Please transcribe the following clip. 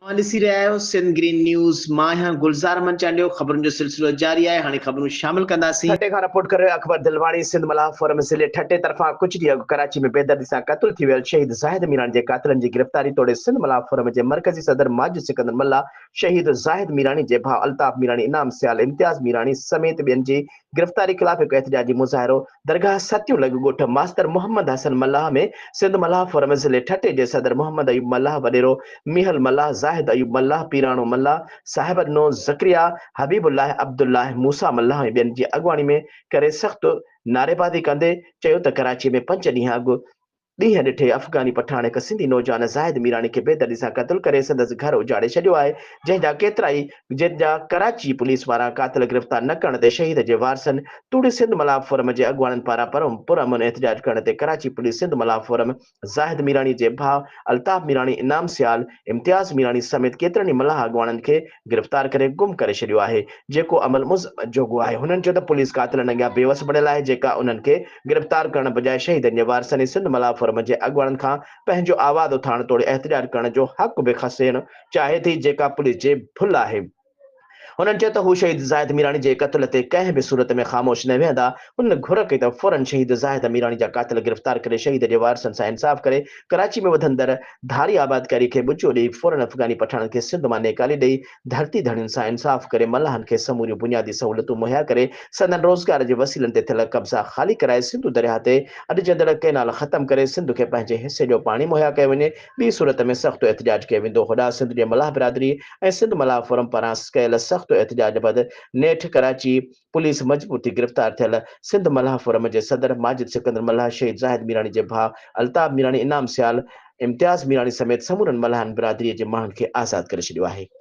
اوهان ڏسي رهيا آهيو سنڌ گرين نيوز مان آهيان گلزار احمد چانڊيو خبرن جو سلسلو جاري آهي هاڻي خبرون شامل ڪنداسين. ٺٽي کان رپورٽ ڪري رهيو اڪبر دلواڻي سنڌ ملاح فورم ضلعي ٺٽي طرفان ڪجهه ڏينهن اڳ ڪراچي ۾ بيدردي سان قتل ٿي ويل شهيد زاهد ميراڻي جي قاتلن جي گرفتاري توڙي سنڌ ملاح فورم جي مرڪزي صدر ماجد سڪندر ملاح شهيد زاهد ميراڻي جي ڀاء الطاف ميراڻي انعام سيال امتياز ميراڻي سميت ٻين جي گرفتاري خلاف هڪ احتجاجي مظاهرو درگاهه ستيون لڳ ڳوٺ ماستر محمد حسن ملاح ۾ سنڌ ملاح فورم ضلعي ٺٽي جي صدر محمد ايوب ملاح وڏيرو ميهل ملاح زاهد ايوب ملاح پيراڻو ملاح صاحب نو ذڪريا حبيب الله عبدالله موسيٰ ملاح ۽ ٻين جي اڳواڻي ۾ ڪري سخت نعريبازي ڪندي چيو ته ڪراچي ۾ پنج ڏينهن اڳ ڏينهن ڏٺي افغاني پٺاڻ هڪ سنڌي نوجوان زاهد ميراڻي کي بيدردي سان قتل ڪري سندس گهر اجاڙي ڇڏيو آهي جنهن جا ڪيترائي جن جا ڪراچي پوليس وارا قاتل گرفتار نه ڪرڻ تي شهيد جي وارثن توڙي سنڌ ملاح فورم جي اڳواڻن پاران پرامن احتجاج ڪرڻ تي ڪراچي پوليس سنڌ ملاح فورم زاهد ميراڻي جي ڀاء الطاف ميراڻي انعام سيال امتياز ميراڻي سميت ڪيترن ئي ملاح اڳواڻن کي گرفتار ڪري گم ڪري ڇڏيو آهي جيڪو عمل مذمت جوڳو آهي هنن چيو ته پوليس قاتلن اڳيان بيوس بڻيل آهي جيڪا انهن کي گرفتار ڪرڻ بجاء شهيدن جي وارثن ۽ سنڌ ملاح فورم جي اڳواڻن کان پنهنجو آواز اٿارڻ توڙي احتجاج ڪرڻ جو حق به کسيڻ چاهي ٿي جيڪا پوليس جي ڀل آهي. هنن چيو ته هو شهيد زاهد ميراڻي جي قتل تي ڪنهن به صورت ۾ خاموش نه ويهندا، هنن گهر ڪئي ته فورن شهيد زاهد ميراڻي جا قاتل گرفتار ڪري شهيد جي وارثن سان انصاف ڪري ڪراچي ۾ وڌندڙ ڌاري آبادڪاري کي ٻچو ڏئي فورن افغاني پٺاڻن کي سنڌ مان نيڪالي ڏئي ڌرتي ڌڻين سان انصاف ڪري ملاحن کي سموريون بنيادي سهولتون مهيا ڪري سندن روزگار جي وسيلن تي ٿيل قبضا خالي ڪرائي سنڌو درياهه تي اڏجندڙ ڪئنال ختم ڪري سنڌ کي پنهنجي حصي جو پاڻي مهيا ڪيو وڃي ٻي صورت ۾ سخت احتجاج ڪيو ويندو هوڏانهن سنڌ جي ملاح برادري ۽ سنڌ ملاح فورم پاران ڪيل سخت احتجاج بعد نيٺ ڪراچي پوليس مجبور ٿي گرفتار ٿيل سنڌ ملاح فورم جي صدر ماجد سڪندر ملاح شهيد زاهد ميراڻي جي ڀاء الطاف ميراڻي انعام سيال امتياز ميراڻي سميت سمورن ملاحن برادري جي ماڻهن کي آزاد ڪري ڇڏيو آهي.